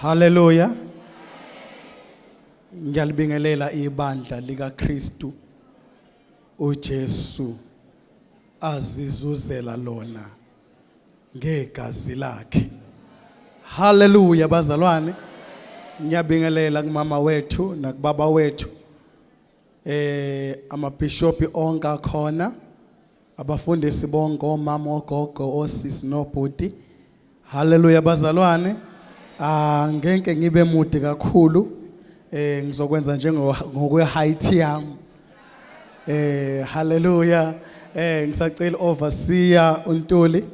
Haleluya. Ngiyalibingelela ibandla likaKristu uJesu azizuzela lona ngegazi lakhe. Haleluya bazalwane. Ngiyabingelela kumama wethu nakubaba wethu. Eh amabishopi onke akhona. Abafundisi bonke omama ogogo osisi nobhuti. Haleluya bazalwane. Ah ngeke ngibe mude kakhulu. Eh ngizokwenza njengokwe height yami. Eh haleluya. Eh ngisacela overseer uNtuli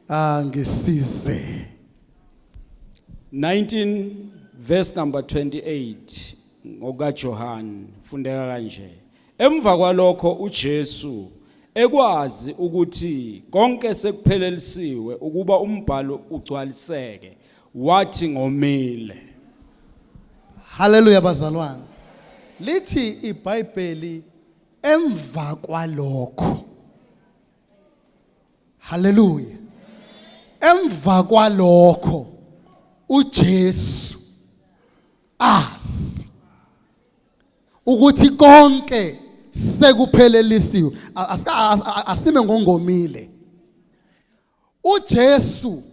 angisize. Ah, 19 verse number 28 ngokaJohane fundeka kanje. Emva kwalokho uJesu ekwazi ukuthi konke sekuphelelisiwe ukuba umbhalo ugcwaliseke wathi ngomile. Haleluya bazalwane. Lithi iBhayibheli emva kwalokho. Haleluya. Emva kwalokho uJesu azi ukuthi konke sekuphelelisiwe asime ngongomile uJesu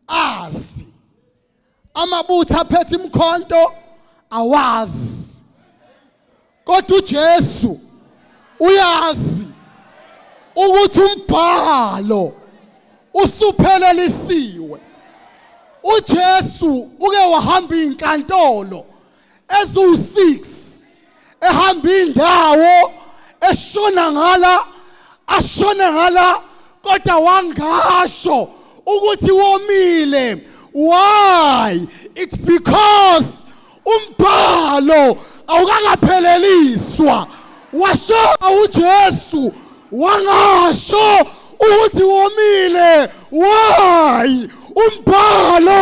azi amabutho aphethe imkhonto awazi kodwa uJesu uyazi ukuthi umbhalo usuphelelisiwe uJesu uke wahamba izinkantolo eziwu-6 ehamba indawo eshona ngala ashone ngala kodwa wangasho ukuthi womile why it's because umbhalo awukakapheleliswa washo uJesu wangasho ukuthi womile why umbhalo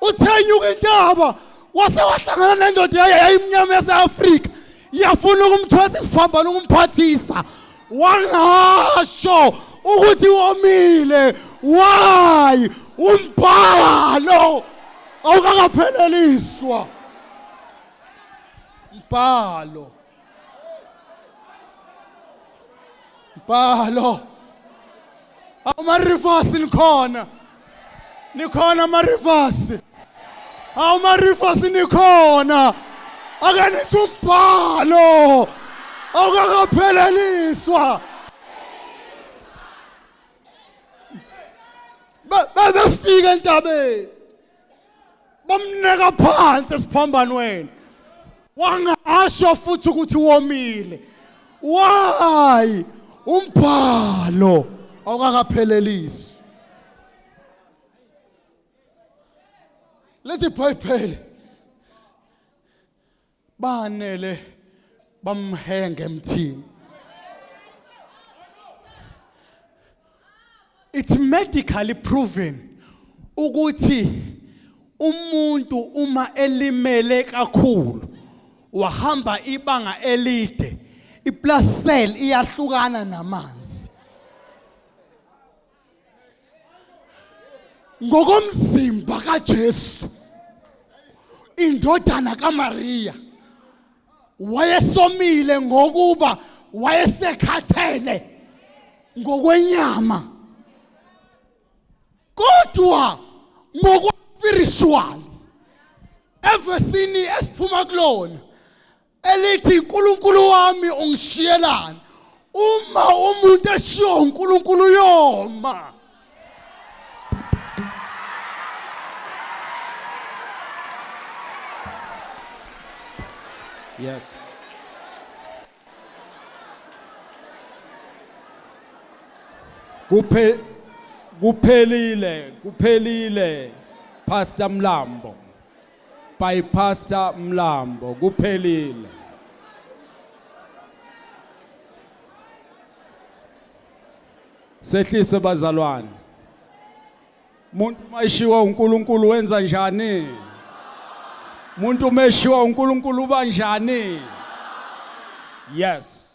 uthenyuka intaba wase wahlangana nendoda yaye yayimnyama yase-afrika yafuna ukumthwesa isiphambano ukumphathisa wangasho ukuthi womile why umbhalo awukakapheleliswa mbhalo Bhalo. Awuma reverse nikhona. Nikhona ama reverse. Awuma reverse nikhona. Ake nithi umbhalo. Awukakapheleliswa. Bebefika entabeni. bamneka phansi esiphambanweni wangasho futhi ukuthi womile why umbhalo awukakaphelelisi lethi ibhayibheli banele bamhenge emthini it's medically proven ukuthi umuntu uma elimele kakhulu wahamba ibanga elide iplasel iyahlukana namanzi ngokomzimba kaJesu indodana kaMaria wayesomile ngokuba wayesekhathele ngokwenyama kodwa ngokwa spiritual evesini esiphuma kulona elithi uNkulunkulu wami ungishiyelani uma umuntu eshiwo uNkulunkulu yoma Yes. Kuphe kuphelile kuphelile Pastor Mlambo. by Pastor Mlambo kuphelile Sehlise bazalwane Muntu mayishiwa uNkulunkulu wenza njani Muntu meshiwa uNkulunkulu banjani Yes